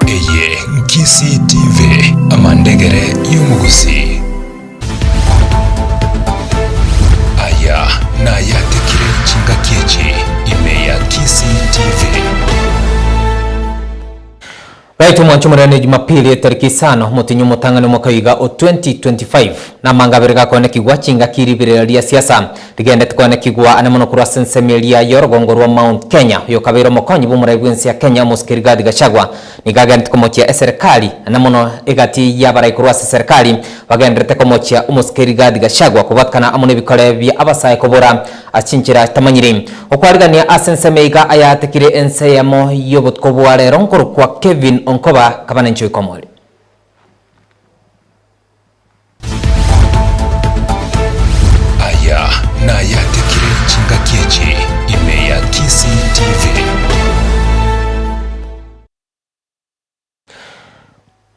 Eye Nkisii TV, amandegere y'omogusii. Aya nayatekire chingaki echi ime ya Kisii TV. Baito mwanche omorero ne Jumapili etariki isano motienyi omotang'ani omwaka oiga o 2025. Namanga abere gakoenekigwa chingaki riberera ria siasa rigendete koenekigwa ane mono korwa ase ensemo eria y'orogongo rwa Mount Kenya. Oyokabeire omokonyi bw'omorai bw'ense ya Kenya omosike Rigathi Gachagua nigo agenete komochia eserekari ane mono egati y'abarai korwa ase serekari bagenderete komochia omosike Rigathi Gachagua kobwatkana amo nebikore bia abasae kobora Ase chinchera chitamanyiri. Okwarigania ase ensemo iga ayatekire ense eyemo y'obotuko bwa rero nkorokwa Kevin Onkoba kabana inchuo ikomori. Aya nayatekire chingaki echi ime ya Kisii TV.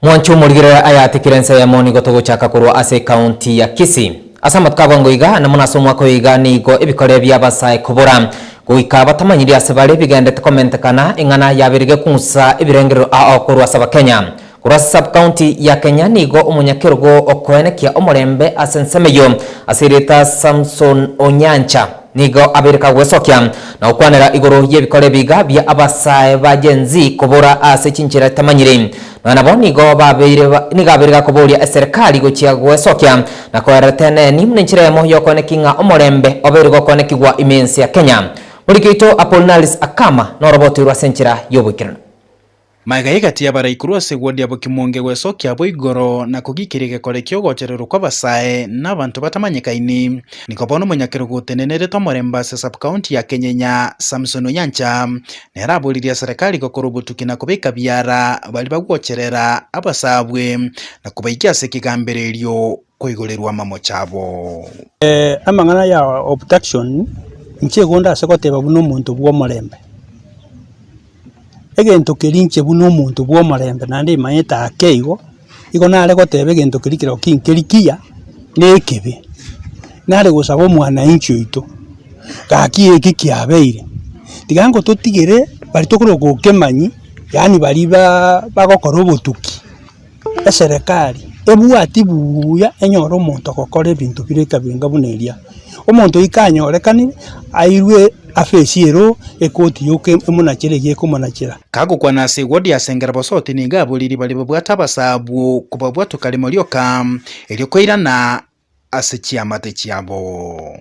Mwanchi omorigerere ayatikire ense ya Emoni gotogochaka korwa ase ekaunti ya Kisii. Ase amatuko abongo iga, na buna ase omwaka oyo iga, nigo ebikore bi'abasae kobora, goika batamanyiri ase bare bigendete komenteka na eng'ana yaberige kung'usa ebirengerero ao korwa ase Abakenya. Korwa ase sub-county ya Kenya nigo omonyakerogo okoenekia omorembe ase ensemo eyio ase erieta Samson Onyancha, Nigo abereka gwesokia na gokwanera igoro y'ebikoro ebiiga bia abasae ba Gen Z kobora ase chinchera tamanyire. Nonya nabo nigo babeire nigo abeire gakoboria eserekari gochia gwesokia na koerera teneni buna enchera eyemo y'okooneki ng'a omorembe obeire gokoonekigwa ime ense ya Kenya. Moriki oito Apollinaris Akama norobotwe rwa ase enchera y'oboikeranu. Magega egatia abaraikuru ase eguodia bokimonge gwesokia abo igoro na kogikera egekore ki'ogochererwa kw'abasae na abanto batamanyekaini. Niko bono omonyakerogo otenenerete omorembe ase Sub-county ya Kenyenya, Samson Onyancha, nere aboririe eserekari gokora obotuki na kobeka biara baria bagwocherera abasaabwe na kobaikia ase ekegambererio. koigorerwa amamocho abo. Amang'ana ya obtaction inche igo ndase goteba buna omonto bw'omorembe, egento keria inche buna omonto bw'omorembe naende imanyete ake igo, igo nare goteba egento keria kerero kinkeri kiya na ekebe. Nare gosaba omwanainchi oito, gaki eki kiabeire, tiga ingo totigere bari tokorwa gokemanyia, yaani baria baa bagokora obotuki. eserekari ebwati buuya enyore omonto ogokora ebinto bire ekabinga buna eria. Omonto oika anyorekane, airwe afesi ero ekoti yoka emonachere eyio ekomonachera. Kagokwana ase egodi ase engera bosoote nigo aboriri bare babwate abasa abwo kobabwatoka rimo rioka, erio kwairana ase chiamate chiabo.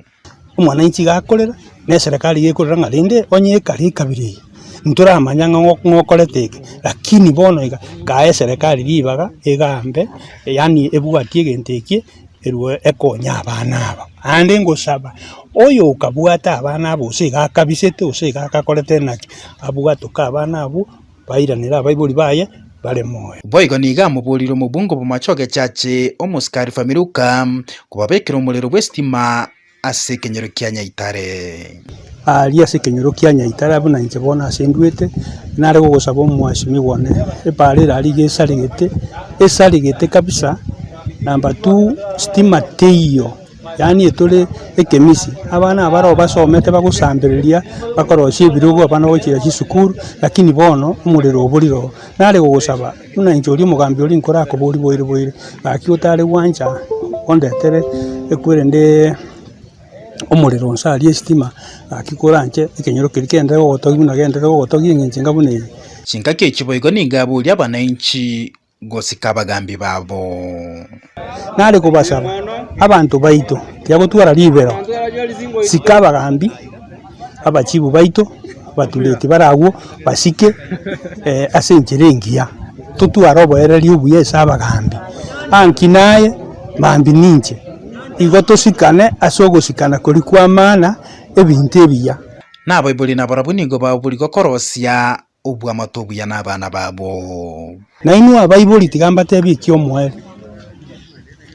Omwananchi iga akorera, na eserekari iga ekorera ng'a rende onye ekare ekabira eye, ntoramanya ng'a ng'o ng'okorete eke, rakini bono iga kae eserekari ribaga egambe yaani ebwatie egento ekie erwo ekonye abana aba. Aande ngosaba, oyo okabwate abana abo gose iga akabisete gose iga akakorete naki, abwatoke abana abwo. bairanere abaibori baye bare moyo. Boigo nigo amoboorire omobungo bw'amache ogechache omosikari Familuka kobabekera omorero bw'esitima ase ekenyoro kia Nyaitare. Aaria ase ekenyoro kia Nyaitare abwo na inche bono ase nduete, nare gogosaba omwasimigwa one ebaare ere aria iga esaregete, esaregete kabisa, number two, sitima teiyo. Yaani etore ekemisi, abana abaroo basomete bagosambereria, bakorosia ebirogo abana bagochia chisukuru, lakini bono omorero oborire oo. Nare gogosaba, buna inche oria omogambi oria nkorakoborie boire boire, gaki otare gwancha ondetere ekwere ndee omorero nse aria esitima, gaki kore anche ekenyoro keria kende ogotogia buna gende ogotogia eng'encho enga buna eye. Chingaki echi boigo nigo abooria abanainchi. gosika abagaambi babo. Nare kobasaba, abanto baito tibagotwara ribero, sika abagaambi abachibu baito batureti bare agwo basike ase enchera engiya, totware oborereria obuya ase abagaambi. Anki naye mambia ninche, igo tosikane ase ogosikana koria kw'amana ebinto ebiya. Naboiboria nabarabwo nigo baburia gokorosia obw'amato obuya nabana babo. Nainwe abaibori, tiga mbatebie eki omoerio,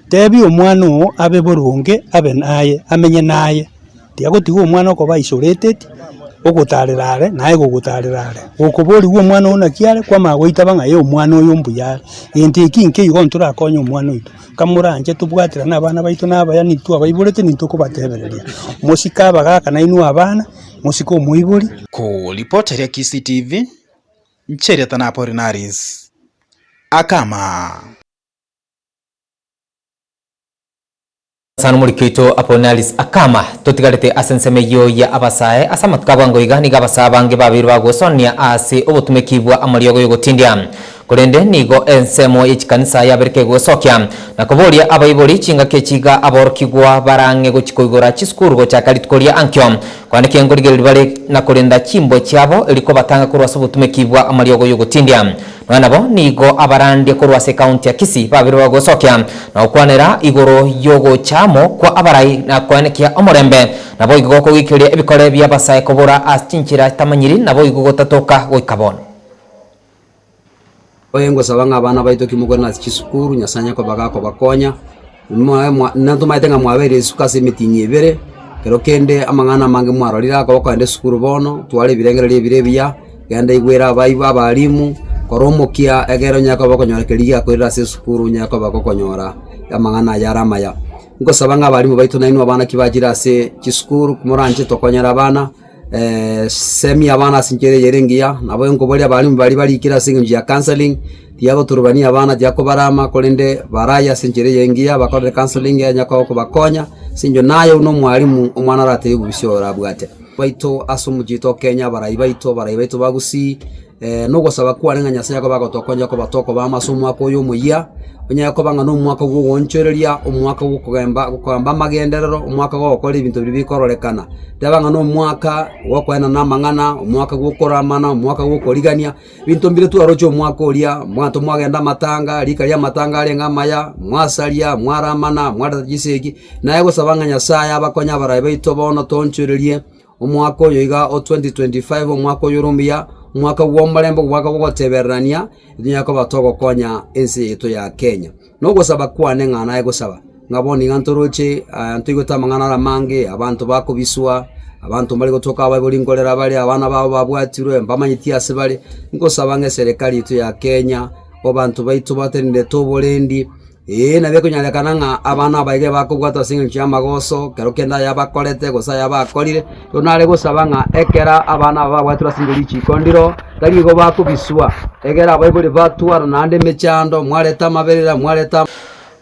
Tebia omwana oo abe boronge, abe naye, amenye naye, tiga gotiga omwana okoba isolated, ogotaarera are, naye gogotaarera are. Gokoborigwa omwana oo naki are, kwamanya goitaba ng'a ee omwana oyo mbuya are, gento eki nkeigo ntorakonye omwana oito. kamoranche tobwaterane abana baito na abaya nintwe abaiborete nintwe okobatebereria. Mosike abagaka nainwe abana, mosike omoibori. Ku report eria Kisii TV, nchiriata na Apollinaris Akama. Sana omoriki oito Apollinaris Akama, Totigarete ase ensemo eyio ya abasae ase amatuko abwango iga nigo abasae abange babeire bagosanania ase obotumeki bwa amariogo yogotindia. Korende nigo ensemo ye chikanisa yaberete goesokia na koboria abaibori chingaki echi iga aborokigwa barang'e gochi koigora chisukuru gochaka rituko ria Ankio, kwanaki engorigereri bare na korenda chimbwe chiabo eri kobatanga korwa ase obotumeki bwa amariogo y'ogotindia. Nonya nabo nigo abarandie korwa ase ekaunti ya Kisii babeirwe goesokia na gokwanera igoro y'ogocha amo kwa abarai na koenekia omorembe, naboigo kogikiria ebikore bi'abasae kobora ase chinchera chitamanyiri naboigo gotatoka goika bono. Oye ngosaba ng'a abana baito kimokore nase chisukuru, Nyasae onye koba gakobakonya, mwae mwa nabo tomaete ng'a mwabeire risuko ase emetinyi ebere, ekero kende amang'ana amange mwarorire akoba kogenda esukuru bono, twara ebirengererio ebire ebiya, genda igwere abaibo abalimu, kora omokia egere onyare koba okonyora keria giakorire ase esukuru onyare koba gokonyora amang'ana aya are amaya. Ngosaba ng'a abalimu baito nainwe abana ki bachire ase chisukuru, moranche tokonyere abana. Semia abana ase enchera eyere engiya, nabo enkoboria abarimu baria barikire ase engencho ya counselling, tiagoturubania abana, tiakobaraama, korende baraye ase enchera eye engiya, bakorere counselling enya ko- kobakonya, ase eng'encho naye buna omwarimu, omwana aratebie bobisia oyo orabwate. Baito ase omochie tokenye abarai baito, abarai baito ba Gusii, Nogosaba kwane ng'a Nyasae akobe agotokoncha kobata okobamo ase omwaka oyo omoyia, onyare koba ng'a nomwaka bw'ogoonchoreria, omwaka bw'okogamba bw'okogamba amagenderero, omwaka bw'ogokora ebinto biria bikororekana. Teba ng'a nomwaka bw'okoenana amang'ana, omwaka bw'okoramana, omwaka bw'okorigania, ebinto mbire twaroche omwaka oria, abanto mwagenda amatanga, rika riamatanga arenge amaya, mwasaria, mwaramana, mwareta chisegi, naye gosaba ng'a Nyasae abakonye abarai baito bono toonchorerie. Omwaka oyo iga o 2025, omwaka oyore omuya, omwaka bw'omorembe, omwaka bw'ogotebererania, etonyare koba togokonya ense yaito ya Kenya. Na ogosaba kwane ng'a naye gosaba, ng'a bono iga ntoroche aa ntoigwete amang'ana are amange, abanto bakobiswa, abanto mbare gotuaka abaibori nkorera bare, abana babo babwatirwe, mbamanyeti ase bare, nkosaba ng'a eserekari yaito ya Kenya, abanto baito batenenerete oborendi. Ee, na bikonyarekana ng'a abana abaige bakobwatwa ase engencho y'amagoso, kero kende ayabakorete, gose ayabakorire. Rero nare gosaba ng'a ekero abana aba babwatirwe ase richiiko ndiro, tari igo bakobiswa, egera abaibori batwara naende emechando, mwareta amaberera, mwareta.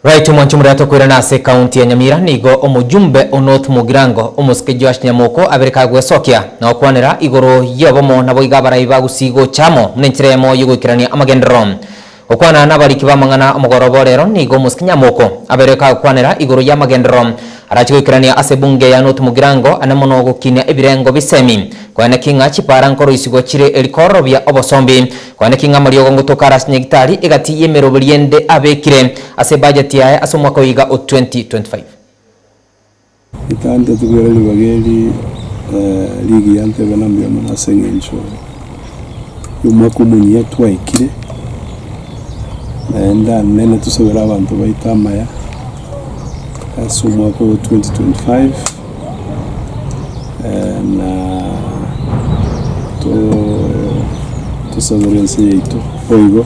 Right mwanche omorero tokoirana ase ekaunti ya Nyamira nigo omojumbe o North Mugirango omosike Joash Nyamoko abereka gwesokia na gokwanera igoro yobomo naboiga abarai bagusii gocha amo buna enchera eyemo yogoikerania amagenderero. Gokwana nabariki b'amang'ana omogoroba o reero nigo omosikinyia moko abeire kagokwanera igoro y'amagenderero arache goikerania ase ebunge ya North Mugirango ane mono gokinia ebirengo bisemi konya naki ng'a chipara nkoroisigwa chire eri kororobia obosombi konya naki ng'a amariogo ngotoka arase nyagitari egati y'emeroberi ende abekire ase ebajeti yaye ase omwaka oyiga o 2025. Ritantetwe riaria ribaga eri rigiya ntebe na mbuya mono ase engencho yomwaka omonyia twaikire, naende anene tosabere abanto baito amaya ase omwaka oyo 2025 na tosabere ense yaito boigo.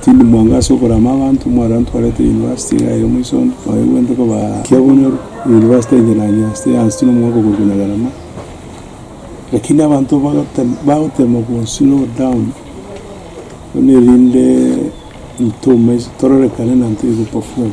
Tindi mwango ase okorama abanto, omwana ntwarete university iga ere moisombe, oye bwente kobaa ekiya bonyoru, university enche nanyia ase yonsi na omwaka oborwa buna garama, lakini abanto bagotema bagotema go slow down, bono erendeee intwe omais tororekane na intwe togo perform.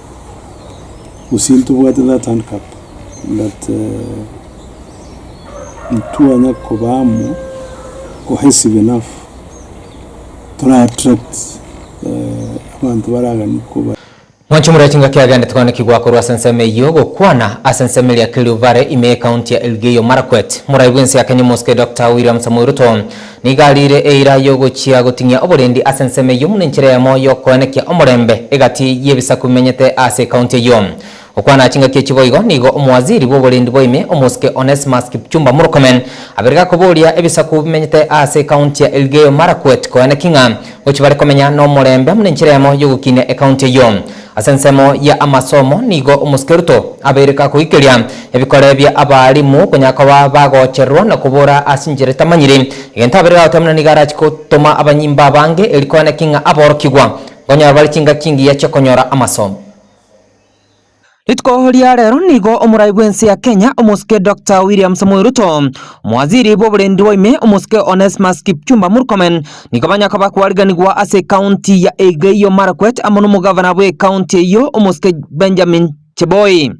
gose ntobwate that handcup, but ntitwanya koba amo cohesive enough, tora attract abanto baraganie koba. Mwanchi omorweri chingaki agendete koanekigwa korwa ase ensemo eyio gokwana ase ensemo eria Kerio Valley ime y'Ecounty ya Elgeyo Marakwet. Morai bw'ense ya Kenya omosike Doctor William Samoei Ruto Nigo ariire eira y'ogochia goting'ia oborendi ase ensemo eyio buna enchera eyemo y'okoenekia omorembe egati y'ebisaku bimenyete ase ekaunti eyio. Gokwana chingaki echi boigo nigo omowaziri bw'oborendi bwa ime, omosike Onesmus Kipchumba Murkomen, abeire gakoboria ebisaku bimenyete ase ekaunti ya Elgeyo Marakwet koeneki ng'a gochia bare komenya nomorembe buna enchera eyemo y'ogokinia ekaunti eyio. Ase ensemo ya amasomo nigo omosikeruto abeireka koikeria ebikore bia abaalimu konya koba bagochererwa na kobora ase enchera etamanyiri. Egento abeire gagoteba buna nigo arache gotoma abanyimbo abange erio kogenda ki ng'a aborokigwa nkonyora bare chingaki engiya chi'okonyora amasomo. Rituko ria rero nigo omorai bw'ense ya Kenya omosike Doctor William Samoei Ruto, omowaziri bw'oborendi bwa ime omosike Onesmus Kipchumba Murkomen, nigo banya koba kwariganigwa ase ekaunti ya Elgeyo Marakwet amo nomogavana bw'ekaunti eyio omosike Benjamin Cheboi.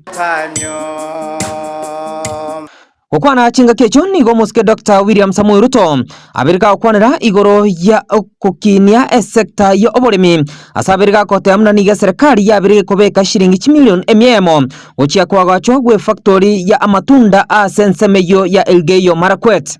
Gokwana chingaki echio nigo omosike Dr. William Samoei Ruto abere gagokwanera igoro ya ogokinia esekta ya oboremi ase abere gagoteba buna nigo eserekari yabere gekobeka shilingi chimilion emiemo gochia koagachwa gw'efactori ya amatunda ase ensemo eyio ya Elgeyo Marakwet.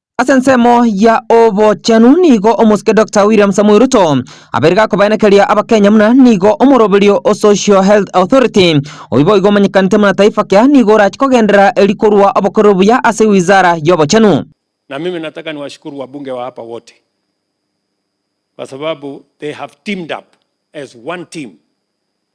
Ase ensemo ya obochenu nigo omosike Doctor William Samoei Ruto abeire gakobaenekeria abakenya muna nigo omoroberio o Social Health Authority oyio boigo omanyekanete muna Taifa Care nigo orache kogenderera eri korwa obokorero buya ase wizara y'obochenu. Na mimi nataka niwashukuru wabunge wa hapa wote kwa sababu they have teamed up as one team.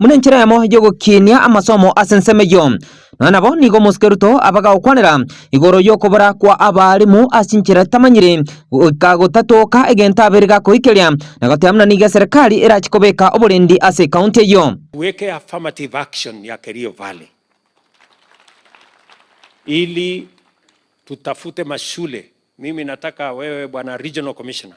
buna enchera yamo y'ogokinia amasomo ase ensemo eyio. Nonya nabo nigo omosikeruto abagagokwanera igoro y'okobora kwa abaalimu ase chinchera tamanyiri, goika gotatoka egento abere gakoikeria, na goteba buna nigo eserekari erachi kobeka oborendi ase ekaunti eyio. Tuweke affirmative action ya Kerio Valley ili tutafute mashule. Mimi nataka wewe bwana Regional Commissioner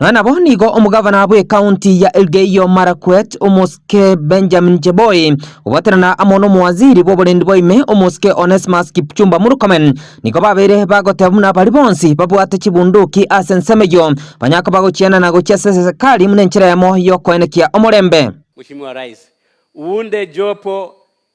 Nonya nabo nigo omogavana bw'ekaunti ya Elgeyo Marakwet, omosike Benjamin Cheboi, gogwatanana amo n'omowaziri bw'oborendi bwa ime, omosike Onesmus Kipchumba Murkomen, nigo babeire bagoteba buna baria bonsi babwate chibunduki ase ensemo eyio banya koba gochiana na gochia ase serekari buna enchera yamo y'okoenekia omorembe. Mheshimiwa Rais, uunde jopo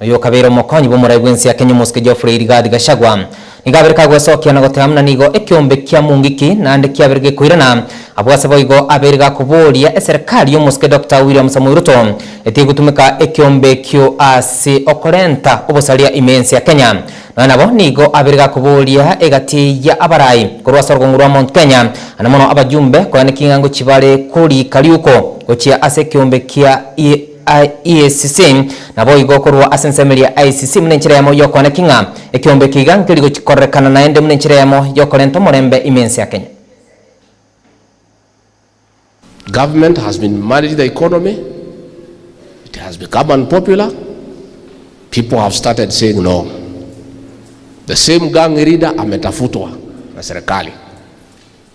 Oyo okabeire omokonyi bw'omorai bw'ense Kenya omosike Geoffrey Rigathi Gachagua nigo abere kagwesokia na goteba muna nigo ekiombe kia Mungiki naende kiabere gekoirana abwo ase boigo abere gakoboria eserekari y'omosike Doctor William Samoei Ruto etige gotumeka ekiombe ekio ase okorenta obosaria ime ense ya Kenya nonya nabo nigo abere gakoboria egati ya abarai korwa ase orogong'u rwa Mount Kenya na mono abajumbe koyana eking'ango chibare korika riuko gochia ase ekiombe kia ICC, naboigo korwa ase ensemo eria ya ICC buna enchera eyemo y'okwana ki ng'a ekeombe eke iga nkeri gochikorerekana naende buna enchera eyemo y'okorenta omorembe ime ense ya Kenya. Government has been managing the economy, it has become unpopular, people have started saying no, the same gang leader ametafutwa na serikali.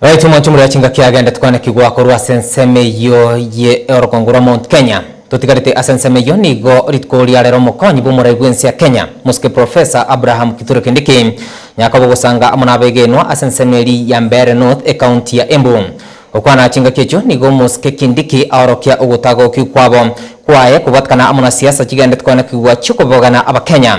Right omonto omoria chingaki agendete koanekigwa korwa ase ensemo eyio ye orokongo rwa Mount Kenya. Totigarete ase ensemo eyio nigo rituko riarera omokonyi bw'omorai bw'ense ya Kenya, Mosike Professor Abraham Kithure Kindiki, Nyakaba ogosanga amo nabegenwa ase ensemo eri ya Mbeere North ecounty ya Embu. Gokwana chingaki echio nigo Mosike Kindiki aorokia ogotagokigwa kwabo kwaye kobwatekana amo na siasa chigendete koanekigwa chiokobogena abakenya.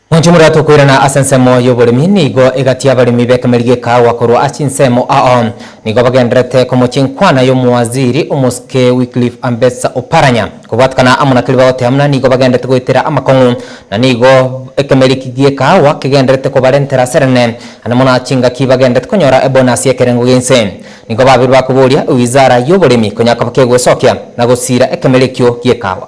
Moinche moria tokoirana ase ensemo y'oboremi nigo egatia abaremi b'ekameri gekaawa korwa ase chinsemo ao nigo bagendererete komochia enkwana y'omowaziri omosike Wycliffe Ambetsa Oparanya. Kobwatekana amo na keria bagoteba buna nigo bagendererete goetera amakong'u na nigo ekameri eki gekaawa kegendererete kobarentera ase rene ande mono ase chingaki bagendererete konyora ebonasi y'ekerengo g'ense. Nigo babeire bakoboria ewizara y'oboremi konya koba kegwesokia na gosiira ekameri ekio gekaawa.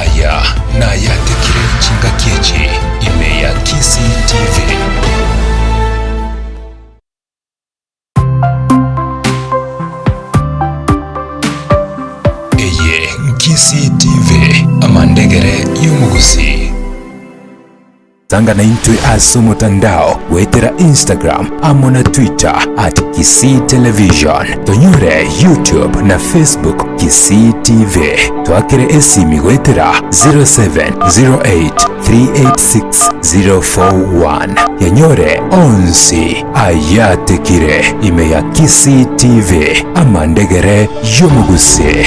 Aya nayatekire chingaki echi ime ya Kisii TV. Eye Nkisii TV, amandegere y'omogusii. Tanga naintwe ase omotandao goetera Instagram amo na Twitter at Kisii Television. Tonyore YouTube na Facebook Kisii TV. Twakere esimi goetera 0708386041. Yanyore onsi ayatekire ime ya Kisii TV amandegere y'omogusi.